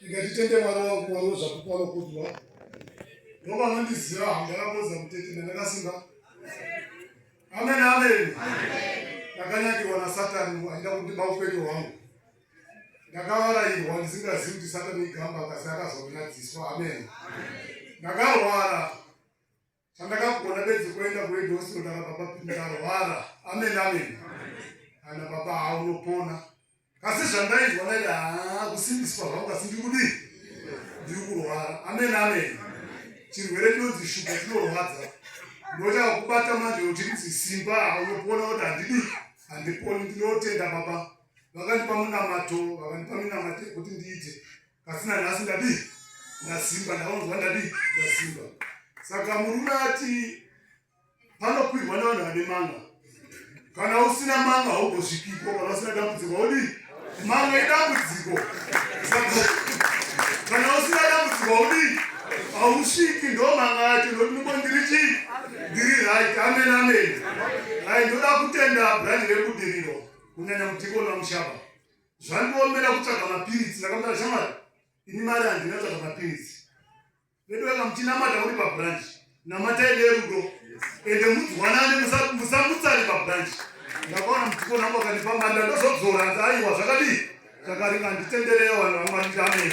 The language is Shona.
ndikatitende mwana wangu kuvangu zvakupano kudwa ndoba anondiziva hamdakakoza mutete ndandakasimba amen amen ndakanyakirwa nasatani aida kundiba upenyu hwangu ndakavarairwa ndisingazivi kuti satani igamba kasi akazoona dziso amen ndakarwara Chandakagona bedzi kuenda kuHedhosiro ndaka baba ndarwara. Amen amen. Kana baba haunopona. Asi zvandaizwa naye haa kusimbiswa zvangu asi ndiri kudii? Ndiri kurwara. Amen amen. Chirwere chinonzi shuga chinorwadza. Ndochaka kubata manje uchinzi simba haunopona kuti handidi handiponi ndinotenda baba. Vakandipa munamato, vakandipa minamato yekuti ndiite. asi nanhasi ndadii ndasimba ndaonzwa ndadii ndasimba saka murume ati panokwirwa nevanhu vane manga kana usina manga haugosvikipo kana usina dambudziko haudii manga idambudziko kana usina dambudziko haudii hausviki ndo manga yacho ndokuti muko ndiri chii ndiri right amen amen ai ndoda kutenda brandi rebudiriro kunyanya mudhikoni vamushaba zvandiomera kutsvaga mapiritsi ndakamutara shamari ini mari handina tsvaga mapiritsi vedu vaka muchinamata uri pabranch namatai nerudo ende mudzwanane musamutsari pabranch ndakaona mutiko nangu akandipa mari ndandozobzora nzi aiwa zvakadii zvakaringa nditendereyo vanhu vamwari ndamei